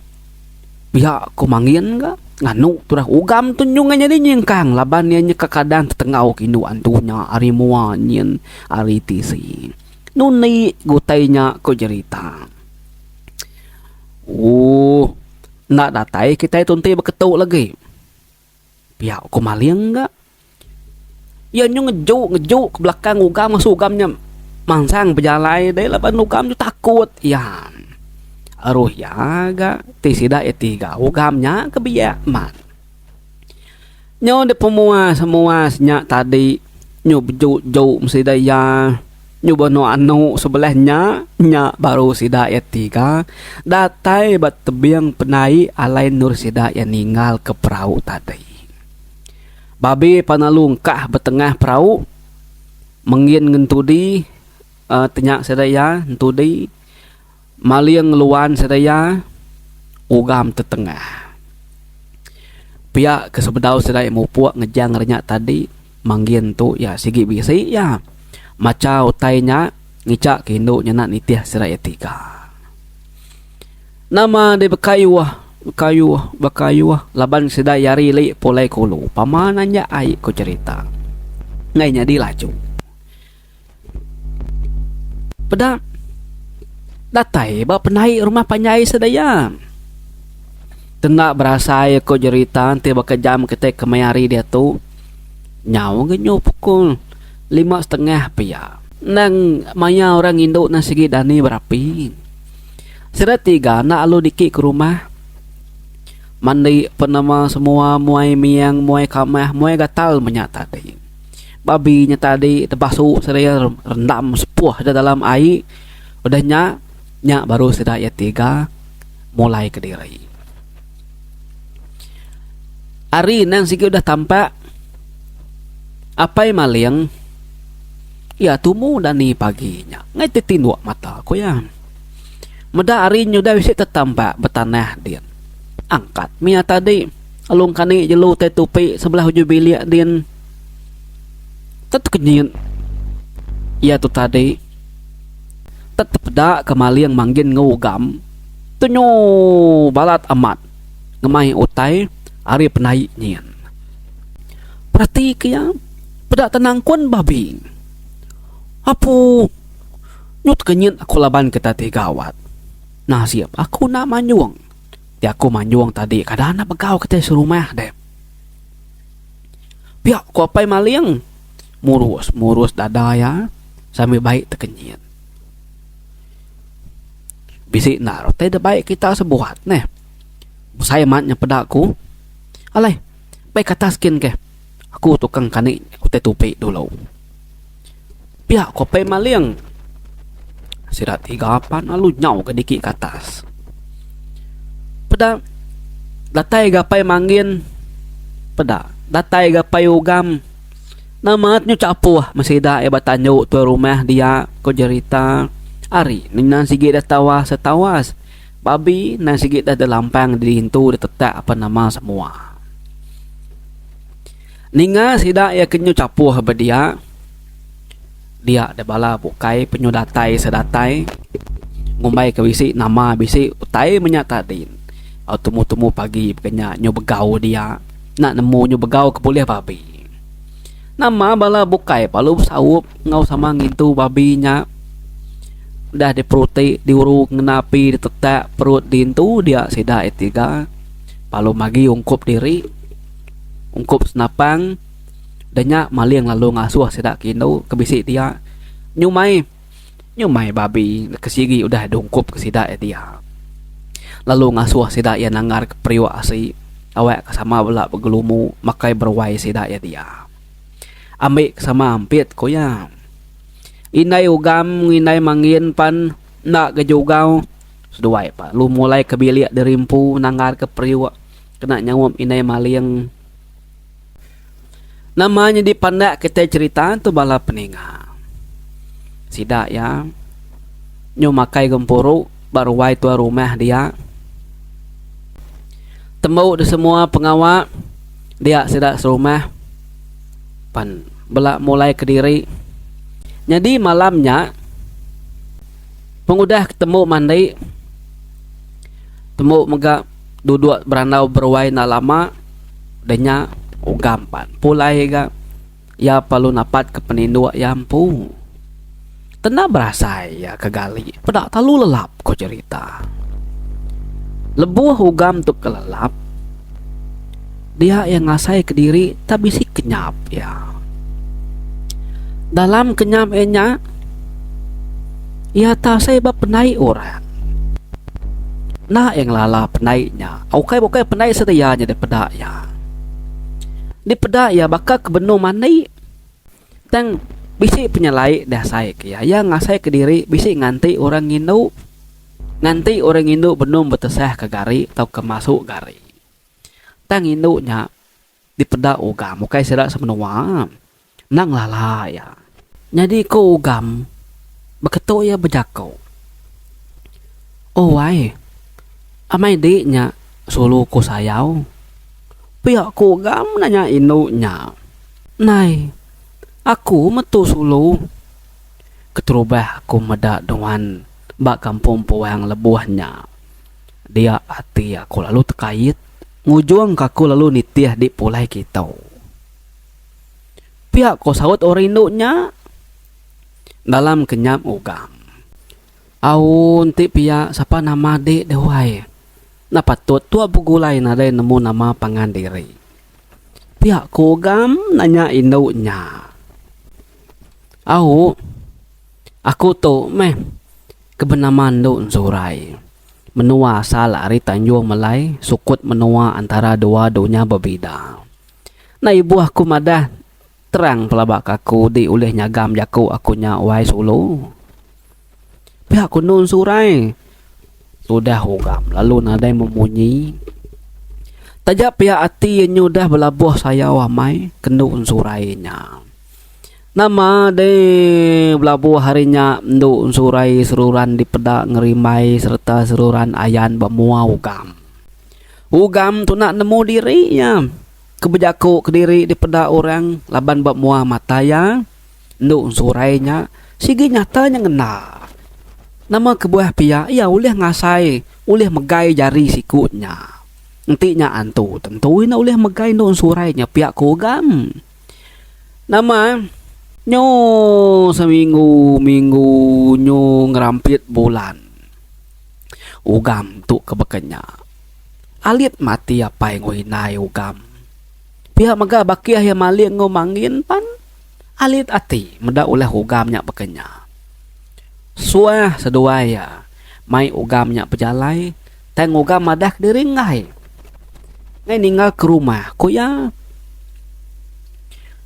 Pia ko Mangin ga nganu turah ugam tu nyung inya ni nyingkang laban iya nyeka kadang tetengau ke indu antu nya ari mua nyin ari tisi. Nu indi ga utai nya ko jerita. Ooh enda datai kitai tu enti beketu lagi. Pia ku maling ga. Iya nyau ngeju ngeju ke belakang ugam masu ugam nya mansang bejalai dei laban ugam tu takut iya. Aruh iya ga ti sida iya ti ga ugam nya ke biak man. Nyau dep pemuas muas nya tadi nyau beju ju mesti dei iya. Nyuba anu anu sebelah nya, nya baru sida iya tiga datai ba tebing penai alai endur sida iya ninggalka perau tadi. Babe pan lalu engkah ba tengah perau mengin ngen tudi uhh tenya sida iya entudi. Maling ngeluan sedia ugam tetengah. Pia ke sebedau sedia mupuk ngejang renya tadi manggin tu iya sigi bisi iya macha utai nya ngicha ke indu nyena nitih sedia iya tiga. Nama deh bekayuh bekayuh bekayuh laban sedia iya ari li pulai kulu pama nanya ai ku cherita ngai nyadi laju. Peda datai ba penai rumah panjai sedaya. Tenda berasai aku jerita enti baka jam kitai kemaya hari diatu nyau ga nyu pukul lima setengah pia. Endang maya orang indu ne sigi dani berapi. Sida tiga enda lalu niki ke rumah mandi penama semua muai miang muai kamah muai gatal menya tadi. Babi nya tadi tebasu seraya rendam sepuh da dalam ai. Udah nya, nya baru sida iya tiga mulai ke diri. Ari endang sigi udah tampak, Apai Maling iya tumu dani pagi nya ngaih ti tinduk mata ku iya. Meda ari nya udah bisi tetampak betanah din. Angkat mih iya tadi. Alung kani jelu utai tupi sebelah ujung bilik din tetekenyit iya tu tadi. Tetepeda ke maling manggin enggau ugam tunyu balat amat ngemai utai ari penai nyin. Perati ke iya peda tenangkun babi. Apu nyu tekenyit aku laban ke tadi gawat. Nasib aku enda manjung. Ti aku manjung tadi kada anak begau kitai serumah deh. Pia ku apai maling murus murus dada iya sambil baik tekenyit. Bisi enda utai da baik kita sebuat neh. Besai amat nya peda ku. Alai, meh ke atas gin ke. Aku tukang kani utai tupi dulu. Pia ko Pei Maling. Sida tiga pan lalu nyau ke dikit ke atas. Peda datai ga Pei Mangin peda datai ga Pei Ugam nama nyu chapuh meh sida iya ba tandu tuai rumah dia ko jerita ari mina sigi deh tawas deh tawas babi enda sigi deh delampang dirintu ditetak apan nama semua. Ninga sida iya kenyu chapuh ba dia, dia deh bala bukai penyu datai se datai ngumbai ka bisi nama bisi utai menya tadi. Au tumu tumu pagi baka nya nyu begau dia enda nemu nyu begau ke bulih babi. Nama bala bukai lalu besaup enggau sama ngintu babi nya udah di peruti di uru ngena api di tetak perut di intu dia sida iya tiga lalu magi ungkup diri. ungkup senapang da nya maling lalu ngasuh sida ke indu ke bisi dia nyumai nyumai babi neg ke sigi udah deh ungkup ke sida iya dia lalu ngasuh sida iya nanggar ke periuk asi tawek ke sama bala begelumu makai beruai sida iya dia ambi ke sama ampit ku iya indai ugam enggau indai mangin pan enda ga jugau seduai pa lalu mulai ke bilik diri empu nanggar ke periuk. Kena nyaup indai maling. Nama nyadi pandak kitai cerita tu bala peninga. Sida iya nyau makai gempuru ba ruai tuan rumah dia. Tembu disemua pengawa dia sida serumah pan bela mulai kediri. Nyadi malam nya pengudah tembu mandi tembu mega. duduk berandau beruai enda lama udah nya ugam pan pulai ga iya perlu napat ke peninduk iya empu kena berasai iya ke gali peda telalu lelap ku cerita lebuh ugam tu kelelap. dia iya ngasai kediri tak bisi kenyap iya. Dalam kenyap iya nya iya tak asai ba pendai orang. Enda iya ngelala pendai nya. Ukai bukai pendai sedia nya dipeda iya. Dipeda iya baka ke benung mandi tang bisi penyelai diasai ke iya. Iya ngasai kediri bisi nganti orang ngindu nganti orang ngindu benung betesah ke gari tauka masu gari. Tang indu nya dipeda Ugam ukai sida semenua, endang lala iya. Nyadi ku Ugam, baka tu iya bejaku. Owai, amai di nya sulu ku sayau. Pia ku Ugam nanya indu nya. Nai, aku metu sulu. Keterubah aku meda nuan ba kampung Puang lebuh nya. Dia ati aku lalu tekait ngujung ke aku lalu nitih di pulai kitu. Pia ko saut orang indu nya dalam kenyap ngugam. Au enti pia sapa nama di deh wai. Enda patut tua begulai nadai nemu nama pangan diri. Pia ko ugam nanya indu nya. Au aku tu meh Ke benama endu Zurai. Menua asal ari Tanjung Melai sukut menua antara dua dunya bebida. Enda ibuh aku madah terang pelaba ke aku di ulih nyagam jaku aku nya wai sulu. Pia ku endu Zurai. Tudah ugam lalu nadai memunyi. Taja pia ati iya nyudah belabuh sayau amai ke endu Zurai nya. Nama deh belabuh ari nya endu ensurai seruran dipeda ngerimbai sereta seruran ayan ba mua ugam. Ugam tu enda nemu diri iya ke bejaku kediri dipeda orang laban ba mua mata iya endu ensurai nya sigi nyata nya ngena. Nama kebuah pia iya ulih ngasai ulih megai jari siku nya. Enti nya antu tentu iya enda ulih megai endu ensurai nya pia ku ugam. Nama nyo seminggu minggu nyo ngerampit bulan ugam tu ke baka nya alit mati apai enggau indai ugam pia mega ba kiah iya maling enggau mangin pan alit ati meda ulah ugam nya baka nya suah seduai iya mai ugam nya bejalai. Tang Uga madah kediri enggai. Ngai ninggal ke rumah, ku iya.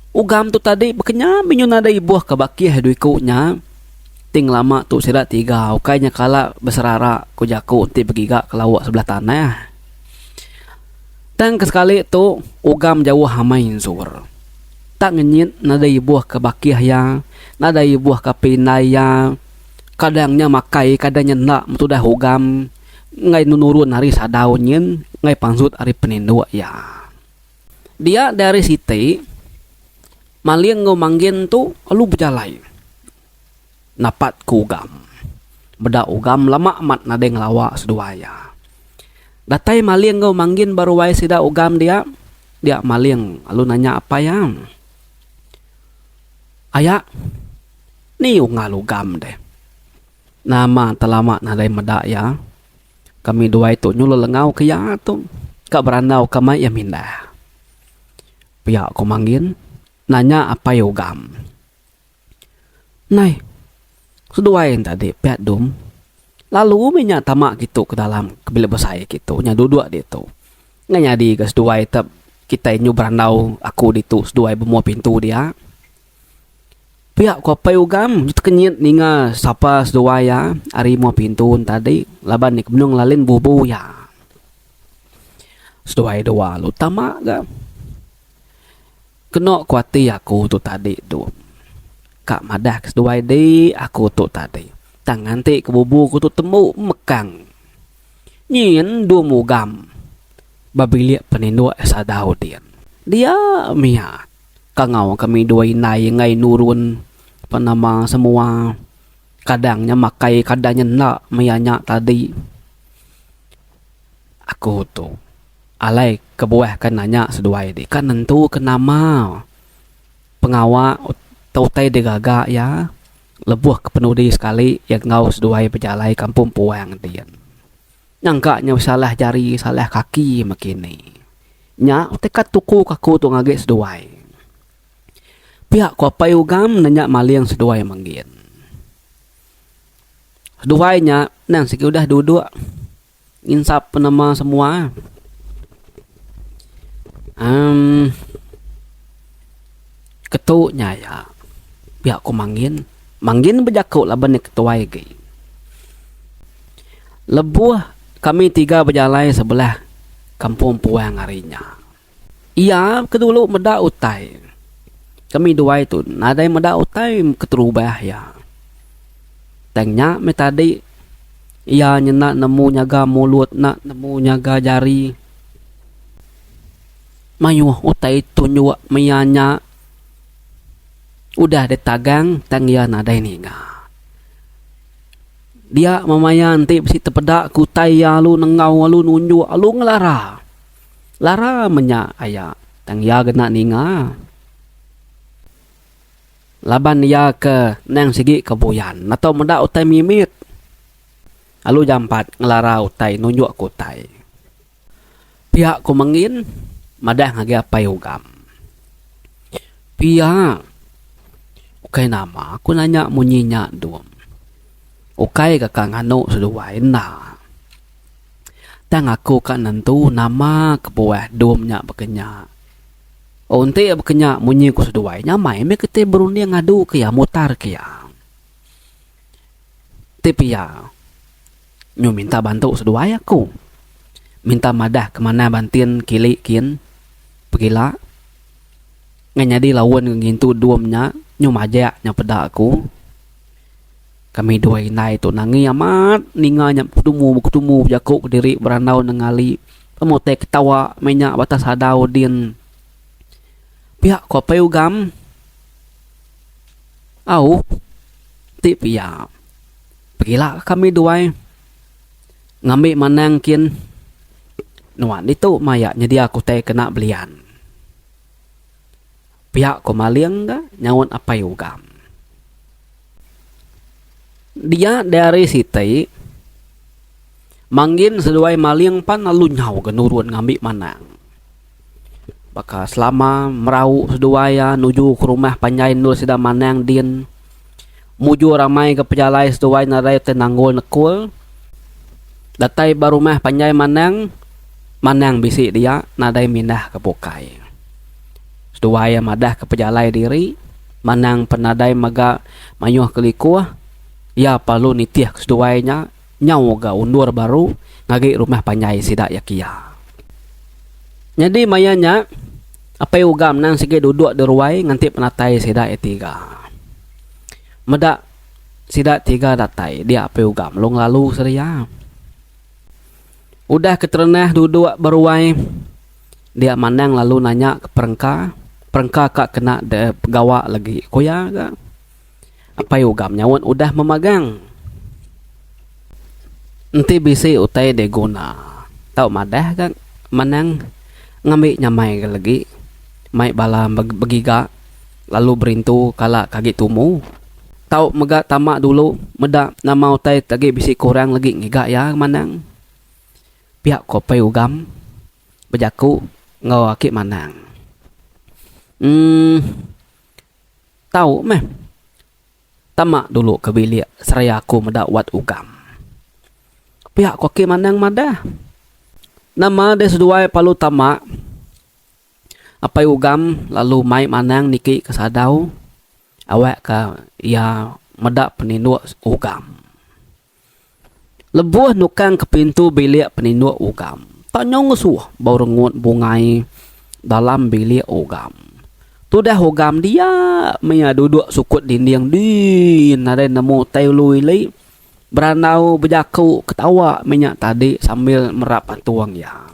Ugam tu tadi bekenya menyun nadai ibuh ke bakih dui ku nya. Ti ngelama tu sida tiga ukai nya kala beserara ku jaku enti begiga ke lauk sebelah tanah. Tang ke sekali tu Ugam jauh amai ensur. Tak ngenyit nadai ibuh ke bakih iya, nadai ibuh ke apai indai iya. Kadang nya makai kadang nya enda metudah ugam enggai nenurun ari sadau nyin enggai pansut ari peninduk iya. Dia deh ari siti Maling enggau Manggin tu lalu bejalai napat ke ugam. Meda ugam lama amat nadai ngelawa seduai iya. Datai Maling enggau Manggin ba ruai sida ugam dia, dia Maling lalu nanya apai iya, Aya. Ni unga lugam deh. Nama telama nadai meda iya. Kami duai tu nyulul enggau ke iya tu ka berandau ka mai iya mindah. Pia ko Manggin nanya apai ugam. Nai. Seduai enda dik pia dum. Lalu mih nya tama kitu ke dalam ke bilik besai kitu nya duduk ditu. Nya nyadi ga seduai kita nyu berandau aku ditu seduai bemua pintu dia. Pia ku Apai Ugam tekenyit ninga sapa seduai iya ari muah pintun tadi laban iya ke benung lalin bubu iya. Seduai dua lalu tama ga. Keno ku ati aku tu tadi tu. Ka madah ke seduai di aku tu tadi. Tang nganti ke bubu aku tu tembu mekang. Nyin dung Ugam ba bilik peninduk sadau din. Dia mia. Kangau kami dua indai enggai nurun ba nama semua kadang nya makai kadang nya enda maya nya tadi aku tu alai kebuah ka nanya seduai ti ka nentu ke nama pengawa tau utai digaga iya lebuh ke penudi sekali iya enggau seduai bejalai kampung puang ti. Nyangka nyau salah jari salah kaki mekini. Nya teka tuku ke aku tu ngagi seduai. Pia ko apai ugam nanya maling seduai menggin. Seduai nya endang sigi udah duduk nginsap penema semua. Emm. Ketu nya iya, pia ku Mangin. Mangin bejaku laban iya ketuai agi. Lebuh kami tiga bejalai sebelah kampung puang ari nya, iya ke dulu meda utai. Kami duai tu nadai meda utai keterubah iya. Tang nya meh tadi iya nyenda nemu nyaga mulut, enda nemu nyaga jari. Mayuh utai tunjuk maya nya udah ditagang tang iya nadai ninga. Dia meh maya enti bisi tepeda ke utai iya lalu nengau lalu nunjuk lalu ngelara. Lara meh nya aya tang iya ke enda ninga laban iya ke endang sigi ke buyan atau meda utai mimit lalu jampat ngelara utai nunjukka utai. Pia ku Mengin madah ngagai Apai Ugam. Pia. Ukai nama aku nanya munyi nya Dum. Ukai ka ka nganu seduai enda. Tang aku ka nentu nama kebuah Dum nya baka nya. Oh enti baka nya munyi ku seduai nyamai meh kitai berunding ngadu ke iya mutar ke iya. Ti pia. Nyu minta bantu seduai aku. Minta madah ke manah bantin kili kin pegila. Ngan nyadi laun ke ngintu dum nya nyu majak nya peda aku. Kami dua indai tu nangi amat ninga nya beketumu beketumu bejaku kediri berandau nengali pemu utai ketawa meh nya batas adau din. Pia ku apai ugam. Au ti pia. Pegila kami duai ngambi manang kin nuan ditu maya nyedia kutai kena belian. Pia ko Maling ga nyaut Apai Ugam. Dia diari siti Manggin seduai Maling pan lalu nyau ga nurun ngambi manang. Baka selama merau seduai iya nuju ke rumah panjai endur sida Manang din mujur ramai ga pejalai seduai nadai utai nanggul nekul. Datai ba rumah panjai Manang, Manang bisi dia nadai mindah ke bukai. Seduai iya madah ke pejalai diri, Manang pen nadai mega mayuh ke likuh, iya perlu nitih ke seduai nya. Nyau ga undur baru ngagi rumah panjai sida iya kia. Nyadi maya nya Apai Ugam endang sigi duduk di ruai nganti penatai sida iya tiga. Meda sida tiga datai dia Apai Ugam lalu ngelalu sedia. Udah ke terenah duduk ba ruai dia Manang lalu nanya ke Perengka, Perengka ka kena deh begawa lagi ku iya ga. Apai ugam nyaut udah memagang. Enti bisi utai deh guna tau madah ga manang ngambi nyamai ga legi mai bala begiga lalu berintu kala ke agi tumu tau mega tama dulu meda nama utai ke agi bisi kurang legi ngiga iya ga manang pia ko apai ugam bejaku enggau aki manang uhh. Tau meh. Tama dulu ke bilik seraya aku meda wat ukam. Pia ko Kim anang madah. Nama deh seduai palu tama. Apai Ugam lalu mai manang niki ke sadau awak ka iya meda penindok Ugam. Lebuh nukang ke pintu bilik peninduk ugam, tanya ngesuh bau rengut bungai dalam bilik ugam. Tudah ugam dia mia duduk sukut dinding dii nadai nemu tai ulu ili berandau bejaku ketawa mih nya tadi sambil merap atung iya.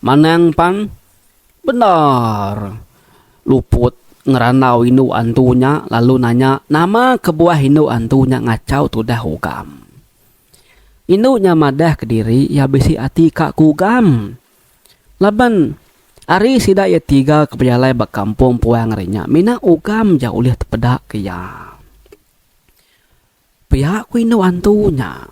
Manang pan bendar luput ngerandau indu antu nya lalu nanya nama kebuah indu antu nya ngachau tudah ugam. Indu nya madah kediri iya bisi ati ka ku ugam. Laban ari sida iya tiga ke bejalai ba kampung puang ari nya mina ugam ja ulih tepeda ke iya. Pia ku indu antu nya.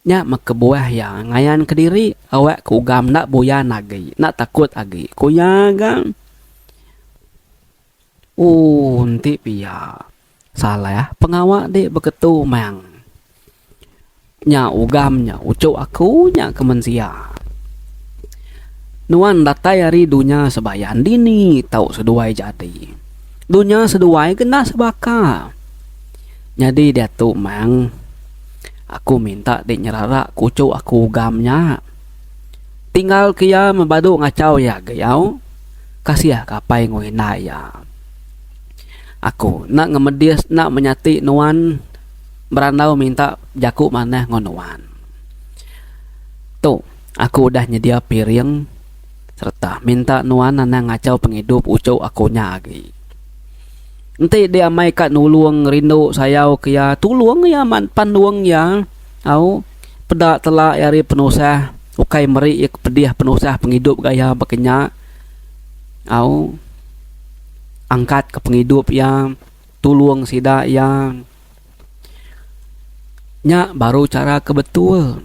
Nya meh kebuah iya ngayan kediri awak ke ugam enda buyan agi, enda takut agi, ku iya ga. Ooh enti pia salah pengawa dek beketu meng nya ugam nya uchu aku nya ke mensia. Nuan datai ari dunya sebayan dini tau seduai jadi. Dunya seduai ke enda sebaka. Nyadi diatu meng. Aku minta deh nyerara kuchuk aku ugam nya. Tinggal ke iya mebadu ngachau iya agi au. Kasih ke apai enggau indai iya. Aku enda ngemedis enda menyati nuan berandau minta bejaku manah enggau nuan. Tu aku udah nyedia piring sereta minta nuan anang ngachau pengidup uchu aku nya agi. Enti diamai ka nulung rindu sayau ke iya tulung iya amat pan nulung iya au peda tela iya ari penusah ukai meri iya ke pedih penusah pengidup ga iya baka nya au angkat ka pengidup iya tulung sida iya. Nya baru chara ke betul.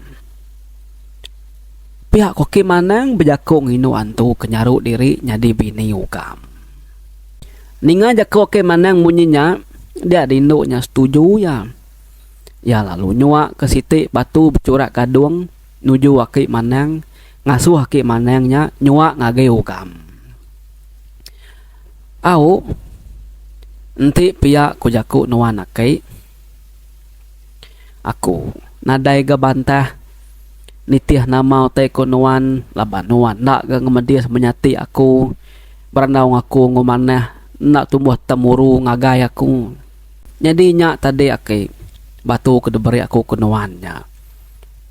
Pia ko Kim Anang bejaku nginu antu ke nyaru diri nyadi bini ugam. Ninga jaku Kim Anang munyi nya, dia dindu nya setuju iya. Iya lalu nyuak ke siti batu bechurak gadung nuju aki Manang ngasuh aki Manang nya nyuak ngagai ugam. Au, enti pia ku jaku nuan aki. Aku nadai ga bantah nitih nama utai ku nuan laban nuan enda ga ngemedis menyati aku berandau ngaku enggau manah enda tumbuh temuru ngagai aku. Nyadi nya tadi aki batu ke diberi aku ke nuan nya.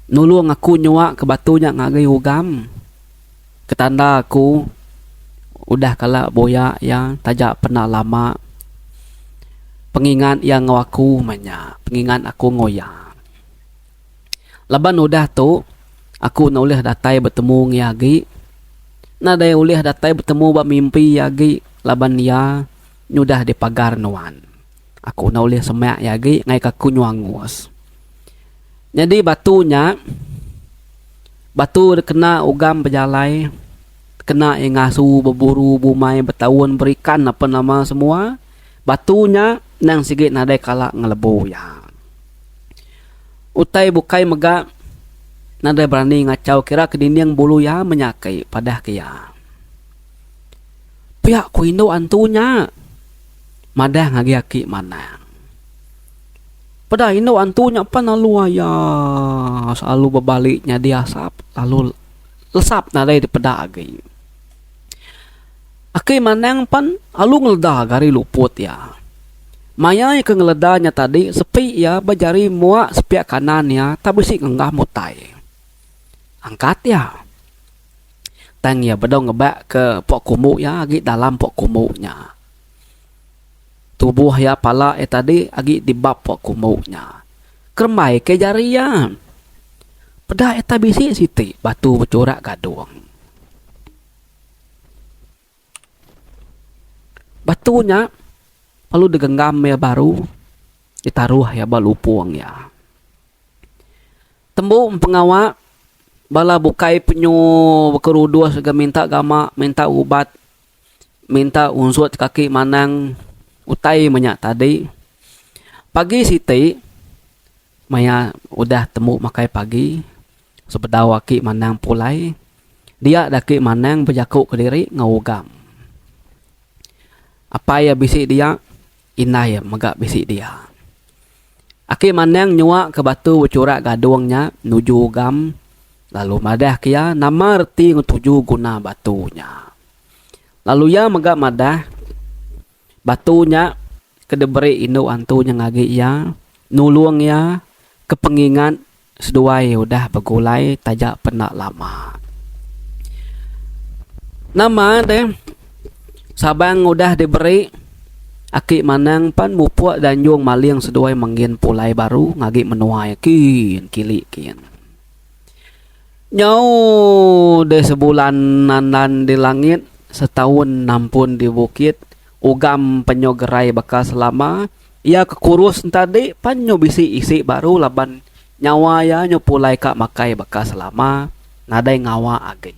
Nulung aku nyuak ke batu nya ngagai ugam. Ketanda aku udah kala buya iya taja penda lama pengingat iya enggau aku meh nya pengingat aku enggau iya. Laban udah tu aku enda ulih datai betemu enggau iya agi nadai ulih datai betemu ba mimpi iya agi laban iya nyudah dipagar nuan. Aku enda ulih semak iya agi ngaika aku nyuah angus. Nyadi batu nya batu dikena ugam bejalai kena iya ngasu beburu bumai betaun berikan apa nama semua batu nya endang sigi nadai kala ngelebu iya. Utai bukai mega nadai berani ngachau kira ke dinding bulu iya menya aki padah ke iya. Pia ku indu antu nya. Madah ngagi aki manang. Peda indu antu nya pan lalu aya selalu bebali nyadi asap lalu lesap nadai dipeda agi. Aki manang pan lalu ngeleda ga ari luput iya. Maya iya ke ngeleda nya tadi sepi iya ba jari mua sepiak kanan iya tak bisi ngenggam utai. Angkat iya. Tang iya bedau ngebakka pok kumu iya agi dalam pok kumu nya. Tubuh iya pala iya tadi agi di bap pok kumu nya. Kerembai ke jari iya. Peda iya tai bisi siti batu bechurak gadung. Batu nya lalu digenggam iya baru ditaruh iya ba lupung iya. Tembu pengawa bala bukai penyu bekerudus ga minta gama minta ubat minta unsut kaki manang utai manya tadi. Pagi siti. Maya udah tembu makai pagi, sebedau aki Manang pulai, dia daki Manang bejaku kediri enggau Ugam. Apai iya bisi dia, indai iya mega bisi dia. Aki Manang nyuaka batu bechurak gadung nya nuju Ugam lalu madahka iya nama reti enggau tuju guna batu nya. Lalu iya mega madah batu nya. ke diberi indu antu nya ngagi iya nulung iya ke pengingat seduai udah begulai taja penda lama. Nama deh Sabang udah diberi Aki Manang pan mupuk Danjung Maling seduai menggin pulai baru ngagi menua iya kin kili kin. Nyau deh sebulan nandan di langit setaun nampun di bukit. Ugam penyu gerai baka selama iya ke kurus entadi pan nyu bisi isi baru laban nyawa iya nyu pulai ka makai baka selama nadai ngawa agi.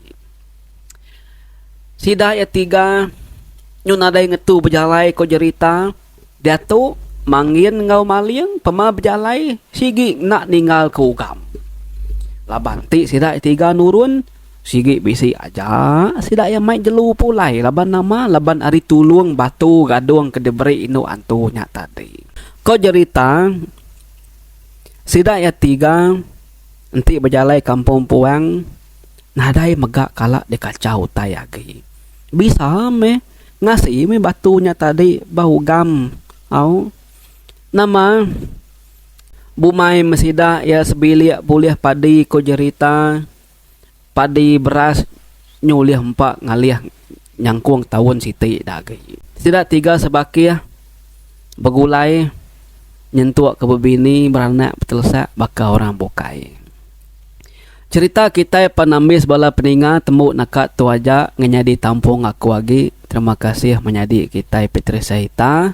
Sida iya tiga nyu nadai ngetu bejalai ko jerita diatu Mangin enggau Maling pema bejalai sigi enda ninggal ke Ugam laban ti sida iya tiga nurun. Sigi bisi aja sida iya mai jelu pulai laban nama laban ari tulung batu gadung ke diberi indu antu nya tadi. Ko jerita sida iya tiga enti bejalai kampung puang nadai mega kala dikachau utai agi. Bisa meh ngasi meh batu nya tadi ba ugam au nama bumai me sida iya sebilik bulih padi ko jerita. padi beras nyu ulih empa ngalih nyangkung taun siti da agi. Sida tiga sebakih begulai nyentuk ke bebini beranak betelesak baka orang bukai. Cherita kitai pan ambis bala peninga tembu naka tu aja ngenyadi tampung aku agi. Terima kasih menyadi kitai Patricia Ita.